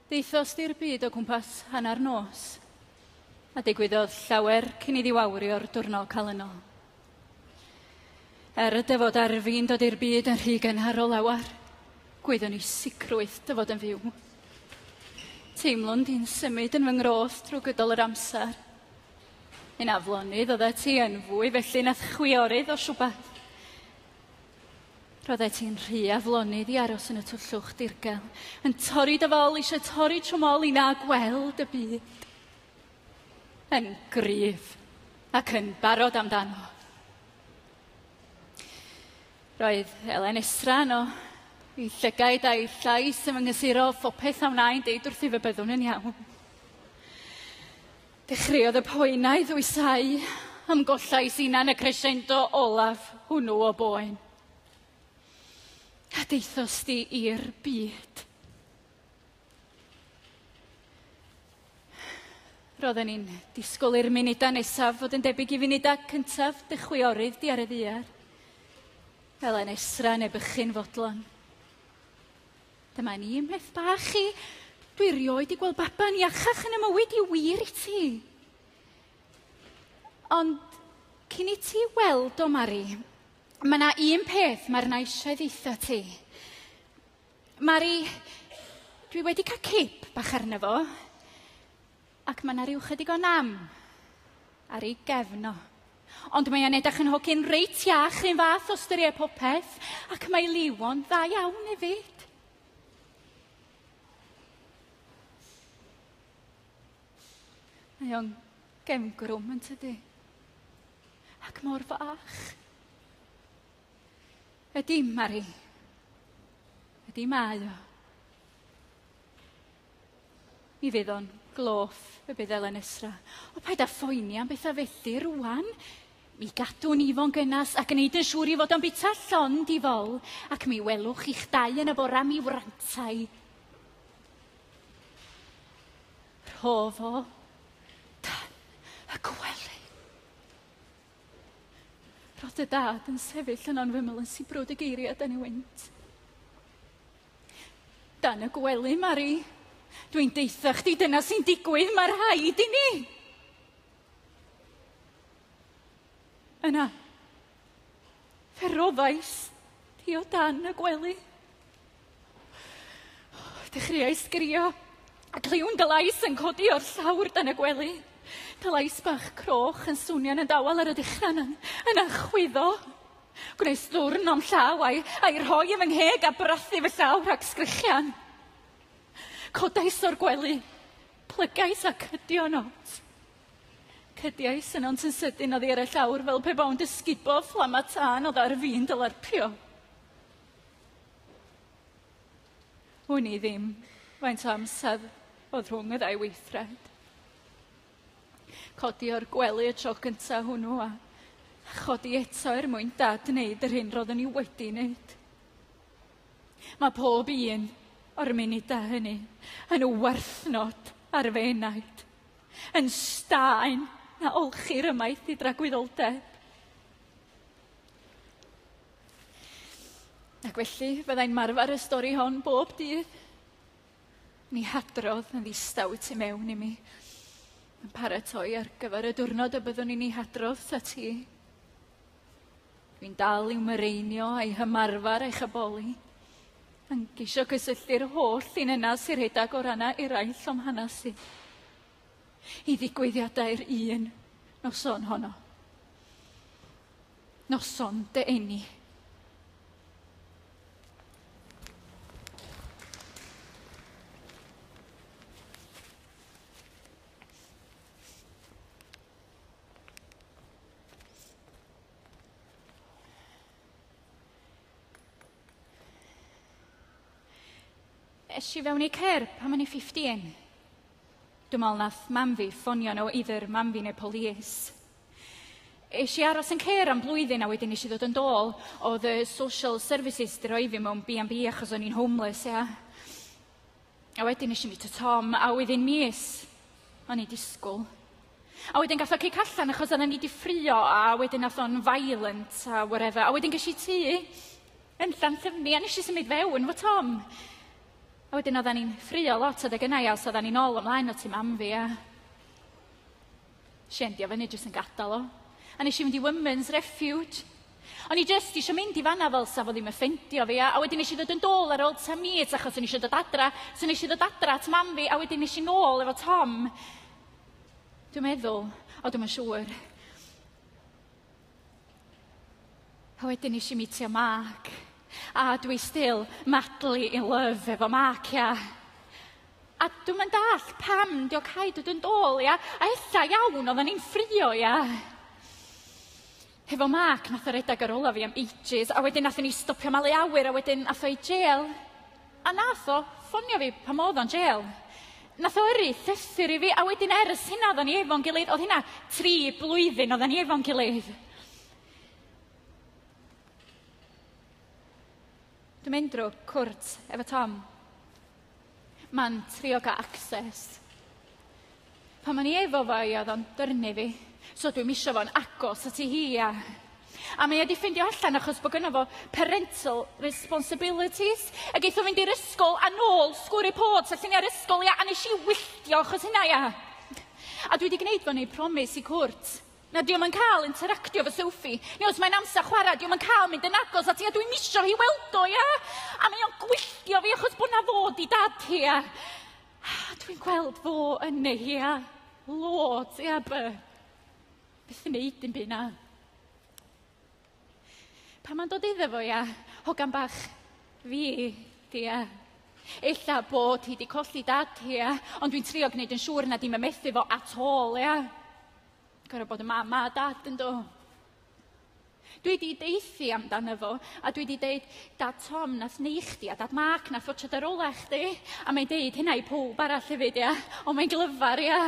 Deithos di'r byd o gwmpas hanner nos, a digwyddodd llawer cyn iddi wawrio'r diwrnod calynol. Er y dyfod ar fi'n dod i'r byd yn rhy gynharol lawer, gwyddwn i sicrwydd dyfod yn fyw. Teimlwn di'n symud yn fy ngroth drwy gydol yr amser. Yn aflonydd oedd ti yn fwy felly nath chwiorydd o siwbat. Roeddet ti'n rhy aflonydd i aros yn y twllwch dirgel, yn torri dy fol, eisiau torri trwm ol i na gweld y byd. Yn gryf ac yn barod amdano. Roedd Elen Esra yno, ei llygaid a'i llais yn fy nghysurol, phopeth a wnaen deud wrthyf y byddwn yn iawn. Dechreuodd y poen a'i ddwysáu am gollais unan y crescendo olaf hwnnw o boen. A deithos di i'r byd. Roedden ni'n disgwyl i'r munudau nesaf fod yn debyg i funudau cyntaf dy chwiorydd di ar y ddiar. Fel yn esra neu bychyn fodlon. Dyma ni, meth bach i. Dwi rioed di gweld baban iachach yn y mywyd i wir i ti. Ond cyn i ti weld o, Mari, mae yna un peth mae'r na eisiau ddeitha ti. Mari, dwi wedi cael cip bach arno fo. Ac mae 'na ryw chydig o nam ar ei gefn o. Ond mae e'n edrych yn hogyn reit iach, un fath o styried popeth, ac mae Liwo'n dda iawn hefyd. Mae o'n gefngrwm yn tydi? Ac mor fach. Ydy, Mari. Ydy mae o. Mi fydd o'n gloff, y bydd Elen Esra. O, paid â phoeni am bethau felly rwan. Mi gadwn ni fo'n gynas a gwneud yn siŵr i fod o'n bita llon di fol, ac mi welwch chi'ch dau yn y bora mi wrantai. Rho fo dan y gwely. Roedd dy dad yn sefyll yno'n fyml yn sibrwd y geiriau a dan i wynt. Dan y gwely, Mari. Dwi'n deitha chdi, dyna sy'n digwydd, mae rhaid i ni. Yna, Fe roddais hi o dan y gwely. Dechreuai sgirio, a cliwn dylais yn codi o'r llawr dan y gwely. Dylais bach croch yn swnio'n y dawel ar y dechrau yn, yn achwyddo. Gwnes ddwrn o'm llaw a'i, a'i rhoi yn fy ngheg a brathu fy llaw rhag sgrichian. Codais o'r gwely, plygais a cydio nos. Cediais yno ond yn sydyn oddi ar y llawr fel pe baw'n dysgubo fflama tân oedd ar fi'n dylarpio. Wn i ddim faint o amser oedd rhwng y ddau weithred. Codi o'r gwely y tro cynta hwnnw a chodi eto er mwyn dad wneud yr hyn roeddwn i wedi wneud. Mae pob un o'r munudau hynny yn werthnod ar fy enaid yn staen na olchi'r ymaith i dragwyddoldeb. Ac felly, fyddai'n marfer y stori hon bob dydd. Ni hadrodd yn ddistaw y tu mewn i mi. Yn paratoi ar gyfer y diwrnod y byddwn i'n ei hadrodd ta ti. Dwi'n dal i'w mireinio a'i hymarfer a'i chyboli, yn geisio cysylltu'r holl un yna sy'n rhedeg o rannau eraill o'm hanes i, i ddigwyddiadau'r un noson honno. Noson dy eni. Es i fewn i cer pan o'n i 15. Dwi'n meddwl nath mam fi ffonio nhw, either mam fi neu polis. Es i aros yn cer am blwyddyn a wedyn nes i ddod yn dôl. Oedd y social services di roi fi mewn B&B achos o'n i'n homeless, ia. A wedyn nes i mi to Tom, a wedyn mis. O'n i disgwyl. A wedyn gath o cic allan achos oedden ni di ffrio a wedyn nath o'n violent a whatever. A wedyn ges i tŷ yn Llanllyfni a nes i symud fewn fo Tom. A wedyn oedden ni'n ffrio lot adeg yna ia, os oedden ni'n ôl ymlaen o tu mam fi a... Shendio fyny jyst yn gadael o. A nes i fynd i Women's Refuge. O'n i jyst eisiau mynd i fanna fel sa fo ddim yn ffendio fi, a, a wedyn nes i ddod yn dôl ar ôl ta mis achos o'n i eisiau dod adra, so nes i ddod adra at mam fi, a wedyn nes i nôl efo Tom. Dwi'n meddwl, o dwi'm yn siŵr. A wedyn nes i meetio Mark. A dwi still madly in love efo Mark, ia. A dwi'm yn dallt pam 'di o caed dod yn dôl, ia? A ella iawn oddan ni'n ffrio, ia? Hefo Mark nath o redag ar ôl o fi am ages, a wedyn nathon ni stopio malu awyr a wedyn ath o i jêl. A nath o ffonio fi pan oedd o'n jêl. Nath o yrru llythyr i fi a wedyn ers hynna oedden ni efo'n gilydd. Oedd hynna tri blwyddyn oedden ni efo'n gilydd. Dwi'n mynd drwy cwrt efo Tom. Ma'n trio cael access Pan o'n i efo fo i oedd o'n dyrnu fi, so dwi'm isio fo'n agos at i hi a... A mae o wedi ffindio allan achos bod gynnaf fo parental responsibilities. A geith o fynd i'r ysgol a nôl sgwr reports a lluniau'r ysgol ia, a nes i wylltio achos hynna ia. A dwi wedi gwneud fo neu promis i cwrt. Na, diolch yn cael interactio fy Sophie. Ni os mae'n amser chwarae, diolch yn cael mynd yn agos at i a dwi'n misio hi weld o ia. A mae o'n gwylltio fi achos bod na fod i dad hi ia. Ah, dwi'n gweld fo yn Nehia. Lord, ia by. Byth yn neud dim byd na. Pan mae'n dod iddo fo, ia, hogan bach fi, di, ia. Ella bod hi di colli dad hi, ia, ond dwi'n trio gwneud yn siŵr na di'n mymethu fo at all, ia. Gorau bod y mam a dad yn do. Dwi wedi deithi amdano fo, a dwi wedi deud, Dad Tom, nath neu chdi, a Dad Mark, nath watcha dy rolau chdi. A mae'n deud hynna i pob arall hefyd, ia. Ond mae'n glyfar, ia.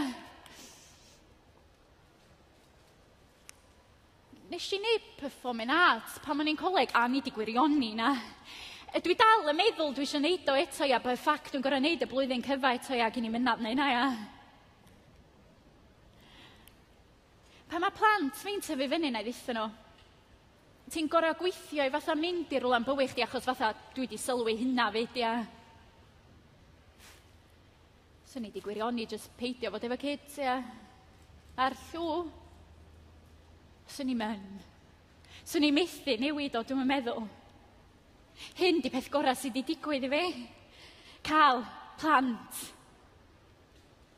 Nes i neud performing arts pan o'n i'n coleg, a ni di gwirioni na. E, dwi dal yn meddwl dwi eisiau neud o eto, ia, by ffac dwi'n gorau neud y blwyddyn cyfa eto, ia, gyn i mynnad neu na, ia. Pan mae plant fi'n tyfu fyny, na i ddeitha nhw, ti'n gorau gweithio i fatha mynd i rwla'n bywyd chdi achos fatha dwi di sylwi hynna fyd, ia. Swn i di gwirioni jyst peidio fod efo kids, ia. A'r llw, swn i'n myn. Swn i'n methu newid o, dwi'n meddwl. Hyn di peth gorau sydd wedi digwydd i fi. Cael plant.